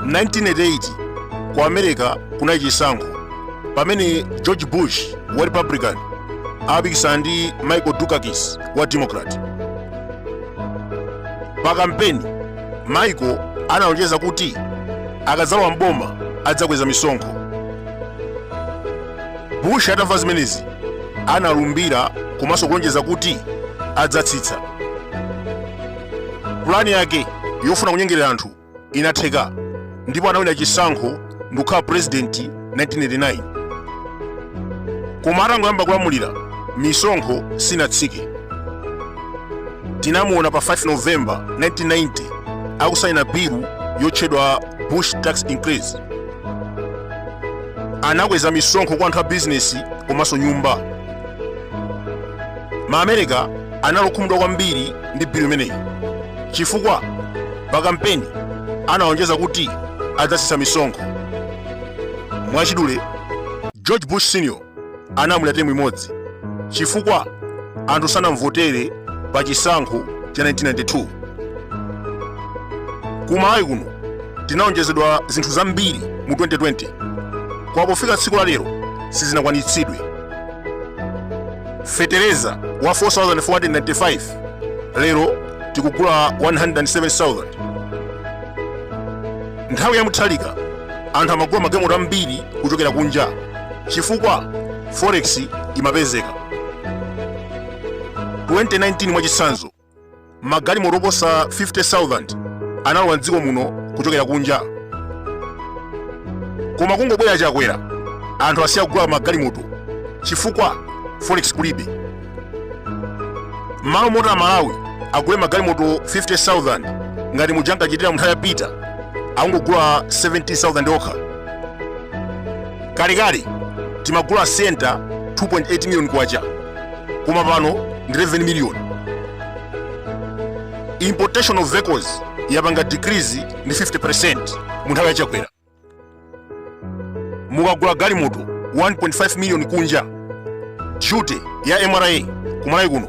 Mu 1988 ku america kunali chisankho pamene george Bush wa Republican amapikisana ndi michael dukakis wa democrat pa kampeni michael analonjeza kuti akadzalowa m'boma adzakweza misonkho bush atamva zimenezi analumbira komanso kulonjeza kuti adzatsitsa pulani yake yofuna kunyengerera anthu inatheka ndipo anawina chisankho ndikukhala purezidenti 1989 koma atangoyamba kulamulira misonkho sinatsike tinamuona pa 5 november 1990 akusaina bilu yotchedwa bush tax increase anakweza misonkho kwa anthu a bizinesi komanso nyumba maamerika anali okhumudwa kwambiri ndi bilu imeneyi chifukwa pa kampeni analonjeza kuti adzasisa misonkho mwachidule george bush senior analamulira temu imodzi chifukwa anthu sanamvotere pa chisankho cha 1992 kumalawi kuno tinalonjezedwa zinthu zambiri mu 2020 koma pofika tsiku la lero sizinakwaniritsidwe fetereza wa 4495 lero tikugula 107000 nthawi ya mutharika anthu amagula magalimoto ambiri kuchokera kunja chifukwa forex imapezeka 2019 mwachitsanzo magalimoto oposa 50,000 analowa mdziko muno kuchokera kunja koma kungobwera chakwera anthu asiya kugula magalimoto chifukwa forex kulibe mmalo moti amalawi agule magalimoto 50,000 ngati muja ankachitira munthawi ya peter akungogula 17,000 okha kalekale timagula sienta 2.8 million kwacha koma pano ndi 11 miliyoni importation of vehicles yapanga decrease ndi 50% mu nthawi ya chakwera mukagula galimoto 1.5 miliyoni kunja duty ya mra kumalawi kuno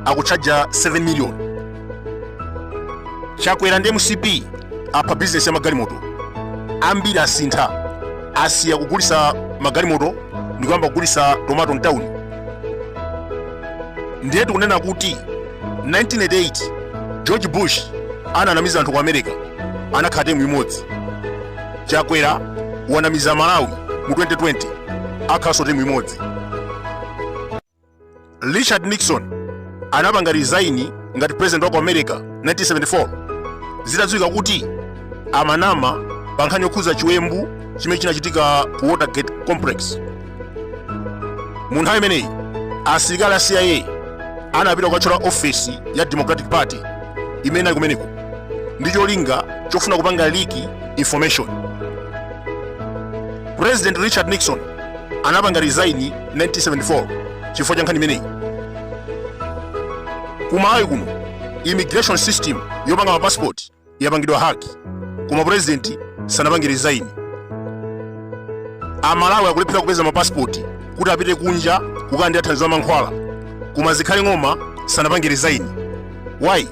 akutchaja 7 miliyoni chakwera ndi mcp apha bizinesi ya magalimoto ambiri asintha asiya kugulitsa magalimoto ndikuyamba kugulitsa tomato mtawuni ndiye tikunena kuti 1988 george bush ananamiza anthu ku america anakhala temu imodzi chakwera wanamiza malawi mu 2020 akhalanso temu imodzi richard nixon anapanga resign ngati president wa ku america 1974 zitadziwika kuti amanama pa nkhani yokhudza chiwembu chimene chinachitika ku watergate complex mu nthawi imeneyi asilikali a cia anapita kukatchola ofesi ya democratic party imene inali kumeneko ndi cholinga chofuna kupanga leak information president richard nixon anapanga resign 1974 chifukwa cha nkhani imeneyi ku malawi kuno immigration system yopanga mapasipoti yapangidwa hack koma president sanapange resign amalawi akulephera kupeza mapasipoti kuti apite kunja kukalandira thandizo la mankhwala koma zikhale ng'oma sanapange resign why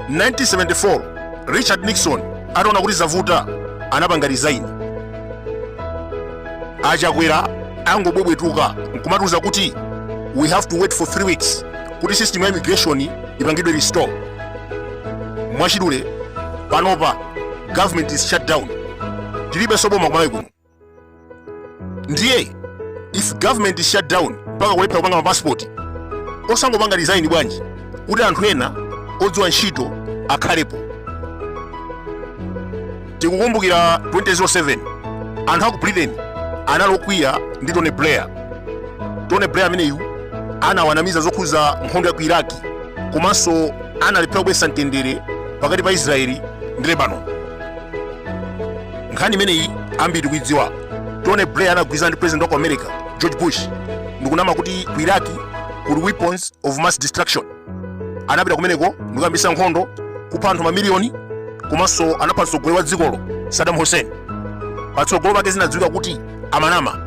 1974 richard nixon ataona kuti zavuta anapanga resign achakwera angobwebwetuka nkumatiuza kuti we have to wait for 3 weeks kuti system ya immigration ipangidwe restore mwachidule panopa government is shut down tilibe so boma ku malawi kuno ndiye if government is shut down mpaka kulephera kupanga mapasipoti osangopanga resign bwanji kuti anthu ena odziwa ntchito akhalepo tikukumbukira 2007 anthu aku britain anali okwiya ndi tony blair tony blair ameneyu anawanamiza zokhuza nkhondo ya ku iraq komanso analephera kubweretsa mtendere pakati pa israeli ndi lebanon nkhani imeneyi ambiri tikuidziwa tony blair anagwirizana ndi president wa ku america george bush ndikunama kuti ku iraq kuli weapons of mass destruction anapita kumeneko ndikuyambisa nkhondo kupha anthu mamiliyoni komanso anapha mtsogoleri wa dzikolo saddam hussein patsogolo pake zinadziwika kuti amanama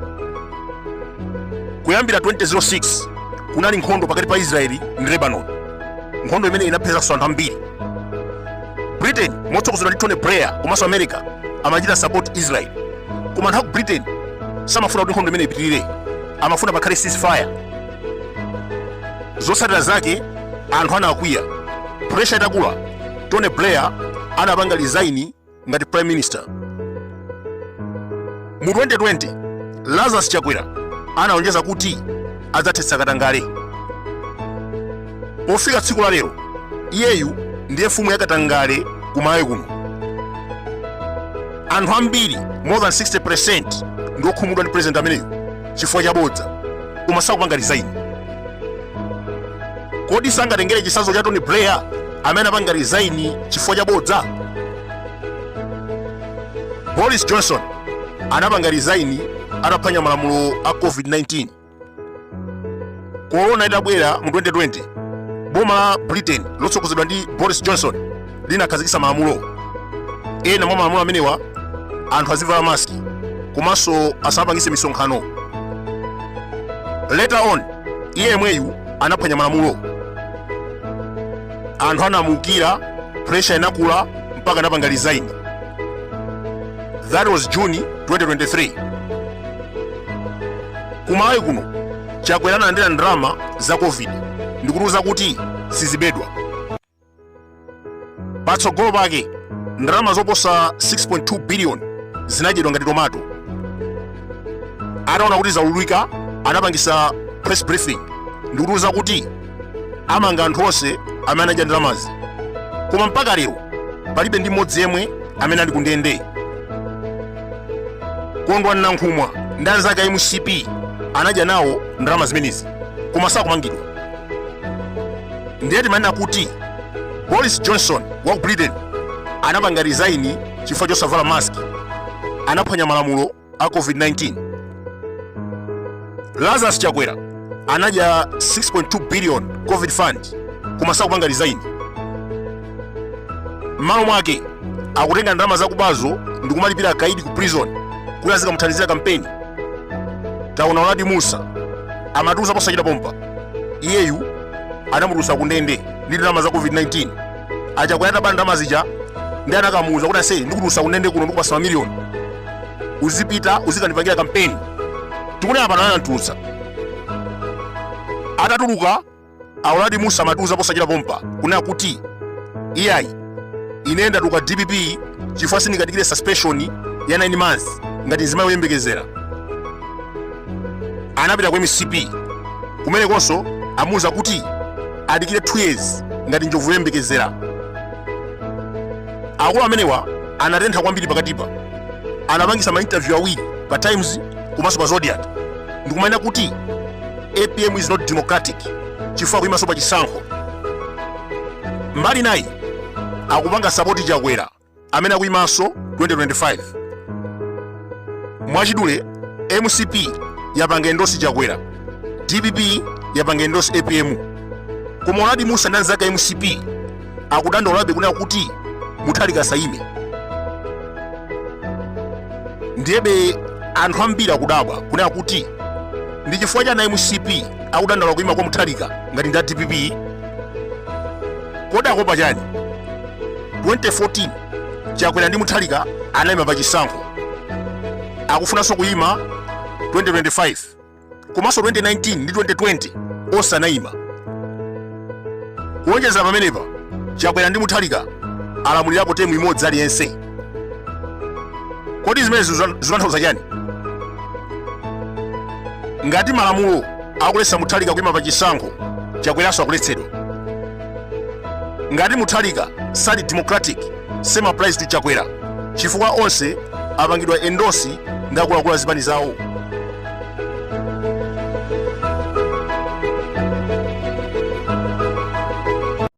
kuyambira 2006 kunali nkhondo pakati pa israeli ndi lebanon nkhondo imene inaphetsaso anthu ambiri britain motsogozedwa ndi tony blair komanso america amachita support israel koma anthu aku britain samafuna kuti nkhondo imeneyi ipitirire amafuna pakhale ceasefire zotsatira zake anthu anakwiya pressure itakula tony blair anapanga resign ngati prime minister mu 2020 lazarus chakwera analonjeza kuti adzathetsa katangale pofika tsiku la lero iyeyu ndiye mfumu ya katangale ku malawi kuno anthu ambiri more than 60% ndi okhumudwa ndi president ameneyu chifukwa cha bodza koma sakupanga resign kodi sangatengere chisazo cha tony blair amene anapanga resign chifukwa cha bodza boris johnson anapanga resign ataphwanya malamulo a covid-19 korona itabwera mu 2020 boma la britain lotsogozedwa ndi boris johnson linakhazikitsa malamulo ena mwa malamulo amenewa anthu azivala maski komanso asapangise misonkhano later on iye yemweyu anaphwanya malamulo anthu anamuukira pressure inakula mpaka anapanga resign that was june 2023 kumalawi kuno chakwera analandira ndalama za covid ndikutiuza kuti sizibedwa patsogolo pake ndalama zoposa 6.2 biliyoni zinadyedwa ngati tomato ataona kuti zaululika anapangisa press briefing ndikutiuza kuti amanga anthu onse amene anadya ndalamazi koma mpaka lero palibe ndi mmodzi yemwe amene ali kundende kondwani nankhumwa ndi anzake a mcp anadya nawo ndalama zimenezi koma sakumangidwa ndiye timanena kuti boris johnson wa ku britain anapanga resign chifukwa chosavala mask anaphwanya malamulo a covid-19 lazarus chakwera anadya 6.2 billion covid fund koma sakupanga resign m'malo mwake akutenga ndalama zakubazo ndi kumalipira akaidi ku prison kuti azikamuthandizira kampeni taona uladi musa amatiuza posachita pompa iyeyu anamutulutsa kundende ndi ndalama za covid-19 achakwera ataba ndalama zija ndi anakamuuza kuti ase ndikutulutsa kundende kuno ndikupasa mamiliyoni uzipita uzikandipangira kampeni tikunena pano anamtulutsa atatuluka auladi musa amatiuza posachita pompa kunena kuti iyayi ine ndatuluka dpp chifukwa sindingadikire suspension ya 9 months ngati nzimayi oyembekezera anapita ku mcp kumenekonso amuuza kuti adikire 2 years ngati njovu yoyembekezera akulu amenewa anatentha kwambiri pakatipa anapangisa mainterview awiri pa times komanso pa zodiac ndikumanena kuti apm is not democratic chifukwa kuyimanso pa chisankho mbali nayi akupanga sapoti chakwera amene akuyimanso 2025 mwachidule mcp yapanga endosi chakwera dpp yapanga endosi apm koma uladi musa ndi anzake a mcp akudandaulabe kunena kuti muthalika asayime ndiyebe anthu ambiri akudabwa kunena kuti ndi chifukwa chani mcp akudandaula kuyima kwa muthalika ngati ndi a dpp kodi akuopa chani 2014 chakwera ndi muthalika anayima pa chisankho akufunanso kuyima 2025 komanso 2019 ndi 2020 onse anayima kuwonjezera pamenepa chakwera ndi muthalika alamulirapo temu imodzi aliyense kodi zimenezi zikutanthauza chani ngati malamulo akuletsa muthalika kuyima pa chisankho chakweranso akuletsedwa ngati muthalika sali democratic same applies to chakwera chifukwa onse apangidwa endosi ndi akuluakulu a zipani zawo